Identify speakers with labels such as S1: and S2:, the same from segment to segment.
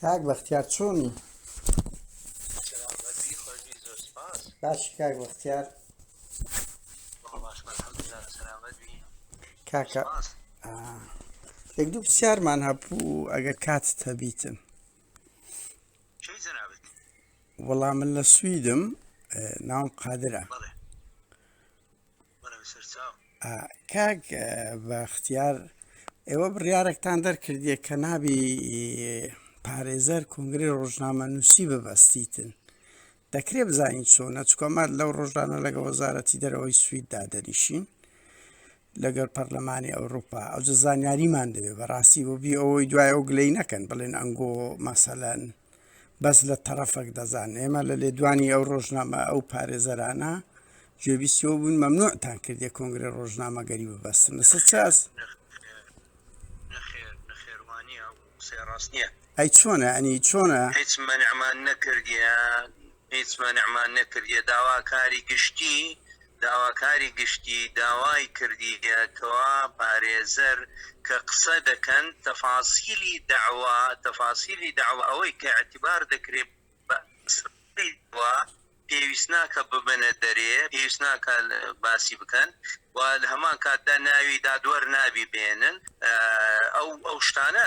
S1: کاک
S2: بەختیار چۆنی
S1: باش کاک بەختیار کاکە
S2: یەک دوو پرسیارمان هەبوو ئەگەر کات هەبیتن
S1: وەڵام
S2: من لە سویدم ناوم قادرە
S1: کاک
S2: بەختیار ئێوە بڕیارێکتان دەرکردیە کە نابی پارێزەر کنگری ڕۆژنامە نووسی ببەستیتن دەکرێ بزانین چۆنە چکۆمات لەو ڕۆژانە لەگە وەزارەتی دەرەوەی سویددا دەنیشین لەگەر پەرلەمانی ئەوروپا ئەو زانیاریمان دەوێت بەڕاستی بۆ بی ئەوەی دوای ئەو گلەی نەکەن بڵێن ئەنگۆ مەسەەن بەس لە تەڕەفەک دەزان ئێمە لە لێدوانی ئەو ڕۆژنامە ئەو پارێزەرانە گوێبیستەوە بوون مەمنوعتان کردێ کۆنگرە ڕۆژنامەگەری ببەستن لەسەر چاس
S1: ئەی چۆنە ئەنی
S2: چۆنە هیچ منعمان
S1: نەکردیان هیچ مەنعمان نەکردیە داواکاری گشتی داواکاری گشتی داوای کردیە کوا پارێزەر کە قسە دەکەن تەفاسیلی دەعوا تەفاسیلی دەعوا ئەوەی کە ئیعتبار دەکرێ بە ئەسڵی دەعوا پێویست ناکە ببەنە دەرێ پێویست ناکە باسی بکەن و لە هەمان کاتدا ناوی دادوەر نابی بێنن ئەو ئەو شتانە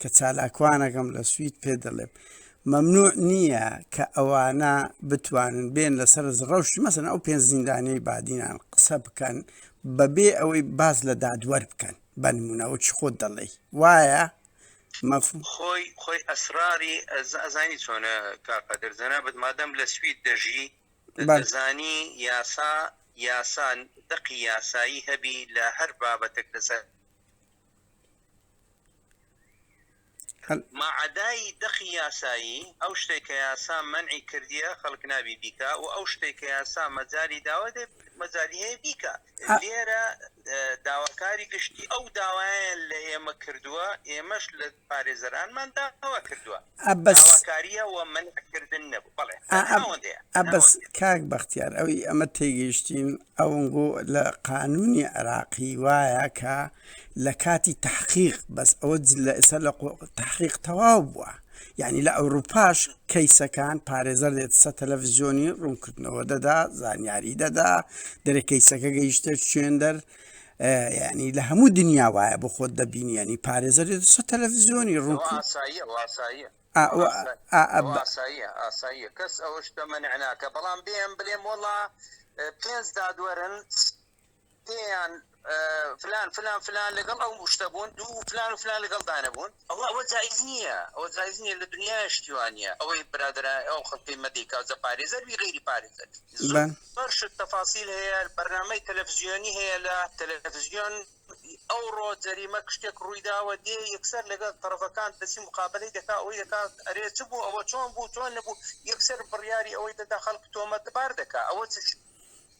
S2: کە چالاکوانەکەم لە سوید پێ دەڵێم مەمنوع نییە کە ئەوانە بتوانن بێن لەسەر ڕەوشی مەسن ئەو پێنج زیندانەی بادینان قسە بکەن بەبێ ئەوەی باز لە دادوەر بکەن بەنمونەوە چ خۆت دەڵێ وایە مەفهوم
S1: خۆی خۆی ئەسراری ئەزانی چۆنە کاقەدر جەنابەت مادەم لە سوید دەژی بەزانی یاسا یاسان دەقی یاسایی هەبی لە هەر بابەتێک لەسەر ماعەدای دەقی یاسایی، ئەو شتەی کە یاسا مەنعی کردیە خەڵک نابی بیکا و ئەو شتەی کە یاسا مەجالی داوە دەبێ مەجالی هەیە بیکا. لێرە داواکاری گشتی ئەو داوایان لە ئێمە کردووە، ئێمەش لە پارێزەرانمان داوا کردووە. عەبەس. داواکارییە و مەنعکردن نەبوو. بەڵێ. ئا ئەب ناوەند هەیە. ئەبەس
S2: ناوەند هەیە. کاک بەختیار ئەوی ئەمە تێگەیشتین ئەونگۆ لە قانوونی عێراقی وایە کە لە کاتی تەحقیق بەس ئەوە جل لە ئێستا لە قۆ تەحقیق تەواو بووە یعنی لە ئەوروپاش کەیسەکان پارێزەر دێت سە تەلەفزیۆنی ڕوونکردنەوە دەدا زانیاری دەدا دەرێ کەیسەکە گەیشتە شوێندەر ینی لە هەموو دنیا وایە بۆ خۆت دەبینی ینی پارێزەر سە تەلەڤزیۆنی ڕوو ئاساییە
S1: کەس ئەوە شتە منعناکە بەڵام بێم بلێم وڵا پێنج دادوەرن پێیان فلان فلان فلان لەگەڵ ئەو شتە بوون دوو فلان و فلان لەگەڵ دانەبوون ئەوە ئەوە جایز نییە ئەوە جایز نییە لە دنیا شتی وانە ئەوەی برادرا ئەو خەڵکی مەدیکا جە پارێزەر بی غیری پارێزەر بەرشت تەفاسیل هەیە بەرنامەی تەلەفزیۆنی هەیە لە تەلەفزیۆن ئەو ڕۆ جەریمە کشتێک ڕوویداوە دێ یەکسەر لەگەڵ تەرەفەکان دەسی مقابلەی دەکا ئەوەی دەکات ئەرێ چ بوو ئەوە چۆن بوو چۆن نەبوو یەکسەر بڕیاری ئەوەی دەدا خەڵک تۆمەتبار دەکا ئەوە چ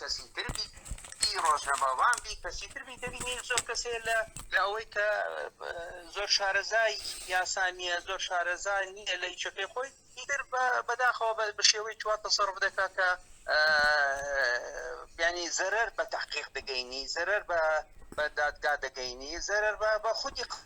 S1: کەسی تر بی ڕۆژنەماوان بی کەسی تر بی دەبینین زۆر کەسێ لە لە ئەوەی کە زۆر شارەزای یاسانیە زۆر شارەزای نییە لە یچەکەی خۆی تر بەداخەوە بە شێوەی چوار تەسەڕف دەکات کە بیانی زەرەر بە تحقیق دەگەینی زەرەر بە بە دادگا دەگەینی زەرەر بە بە خودی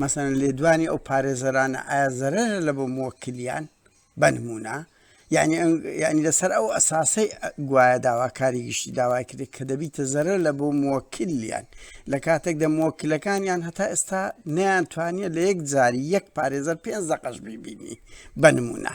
S2: مەسەلەن لێدوانی ئەو پارێزەرانە ئایا زەرەرە لە بۆ موەکلیان بەنمونە یعنی یعنی لەسەر ئەو ئەساسەی گوایە داواکاری گشتی داوای کرێت کە دەبیتە زەرە لە بۆ موەکلیان لە کاتێک دە موەکلەکانیان هەتا ئێستا نیان توانیە لە یەک جاری یەک پارێزەر پێنج دەقەش بیبینی بەنمونە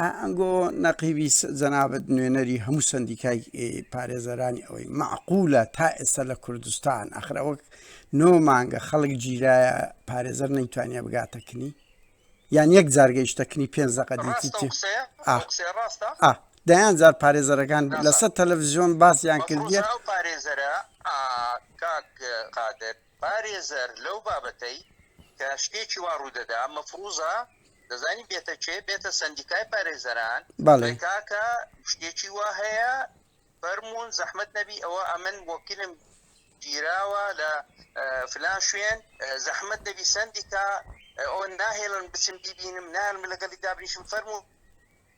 S2: ئەنگۆ نەقیبی جەنابەت نوێنەری هەموو سندیکای پارێزەرانی ئەوەی معقولە تا ئێستا لە کوردستان ئەخرا وەک نۆ مانگە خەڵک گیرایە پارێزەر نەیتوانیا بگاتەکنی یان یەک جارگەیشتەکنی پێ زەقە دەیان جار پارێزەرەکان لەسەر تەلەڤزیۆن باسیان کردیە پارێزەرە
S1: قادر پارێزەر لەو بابەتەی کە شتێکی وا ڕوودەدا مەفروزە دەزانی بێتە کێ بێتە سندیکای پارێزەران بەڵێ کاکە شتێکی وا هەیە فەرمونون زەحمت نەبی ئەوە ئەمن وەکیلم گیراوە لە فلان شوێن زەحمت نەبی سندیکا ئەو ناهێڵن بچم بیبینم نان لەگەڵی دابنیشم فەرمونون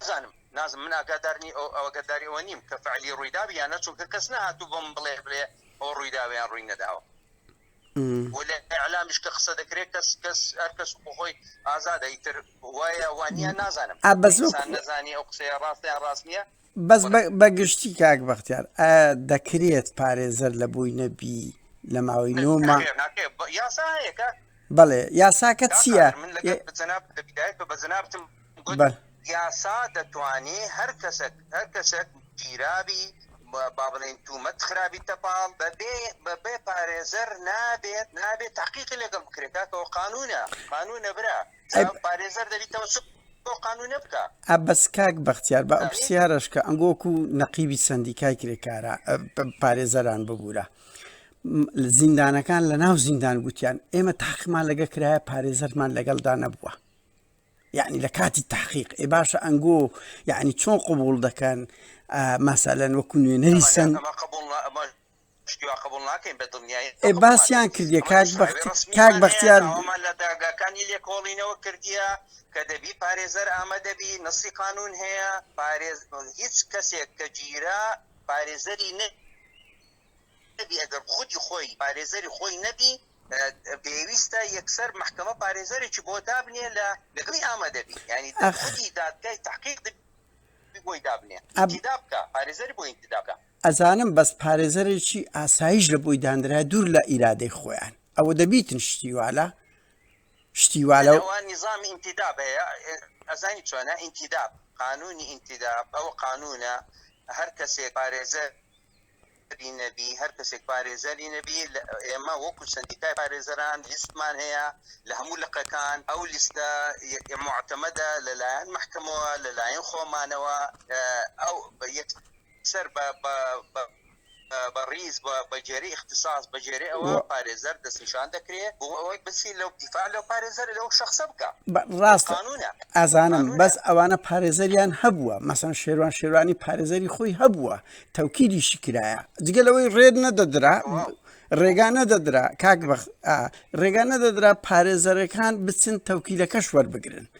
S2: نازانم
S1: نازم من ئاگادارنی ئەو ئەوگەداری ئەوە نیم کە فعلی ڕوویداوی یانە چونکە کەس نهاتوو بۆم بڵێ بڵێ ئەو ڕوویداویان ڕووی نەداوە ئەلامیش کە قسە دەکرێت کەس کەس هەر کەس بخۆی ئازادە ئیتر وایە وانە نازانم نازانی ئەو قسەیە ڕاستیان ڕاست نییە بەس بە
S2: گشتی کاک بەختیار دەکرێت پارێزەر لە بووی نەبی لە ماوەی نۆمە
S1: بەڵێ یاساکە
S2: چییە
S1: یاسا دەتوانێ هەر کەسێک هەر کەسێک گیرابی با بڵێن تومەت خرابی تەپاڵ بەبێ بەبێ پارێزەر نابێت نابێت تاقیقی لەگەڵ بکرێت کاکەەوە قانونە قانونە برا بەس کاک
S2: بەختیار بە پرسیارەشکە ئەنگۆک و نەقیبی سندیکای کرێکارە پارێزەران ببوورە زیندانەکان لە ناو زیندان گوتیان ئێمە تاقمان لەگە کرایە پارێزەرمان لەگەڵدا نەبووە یعنی لە کاتی تحقیق ئێ باشە ئەنگۆ یعنی چۆن قوبول دەکەن ماسالەن وەکو نوێنەری سند ئێ باسیان کردیە کاک بەختی کاک بەختیار ئەوەمان لە داگاکانی
S1: لێکۆڵینەوە کردیە کە دەبی پارێزەر ئامادەبی نەسی قانون هەیە پارێز هیچ کەسێک کە گیرا پارێزەری نە نەبی ئەگەر خودی خۆی پارێزەری خۆی نەبی پێویستە یەکسەر محکمە پارێزەرێکی بۆ دابنێ لە لەگەڵی ئامادەبی ینی داخودی دادگای تحقیق بۆی دابنێ ئەبدا بکە پارێزەری بۆ ئینتدابکە ئەزانم بەس
S2: پارێزەرێکی ئاسایش لە بۆی داندرایە دوور لە ئیرادەی خۆیان ئەوە دەبیتن شتی والە شتی والە نظامی ئینتیداب
S1: هەیە ئەزانی چۆنە ئینتیداب قانونی ئینتیداب ئەو قانونە هەر کەسێک پارێزە نەبی هەر کەسێک پارێزەری نەبی ئێمە وەکو سندیکای پارێزەران لیستمان هەیە لە هەموو لقەکان ئەو لیستە معتەمەدە لەلایەن محکمەوە لەلایەن خۆمانەوە ئەو یەک سەر بە بە بە بە ڕیز بە بەجێری اختصاص بەجێری ئەوە و- پارێزەر دەستنیشان دەکرێت بۆ ئەوەی بچی لەو دیفاع لەو پارێزەر لەو شخصە بکە
S2: بە- ڕاستە قانونە ئازانم قانونە. بەس ئەوانە پارێزەریان هەبووە مەسەن شێروان شێروانی پارێزەری خۆی هەبووە تەوکیدیشی کرایە جگە لەوەی ڕێت نەدەدرا تەواو. ڕێگا نەدەدرا کاک بەخ ئا، ڕێگا نەدەدرا پارێزەرەکان بچن تەوکیلەکەش وەربگرن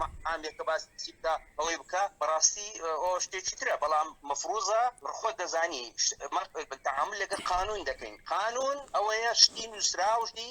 S1: مەحامێکە باسی بکە ئەوەی بکە بەڕاستی ئەو شتێکی ترە بەڵام مەفروزە خۆت دەزانی تەعامل لەگە قانون دەکەین قانون ئەوەیە شتی نووسراوشی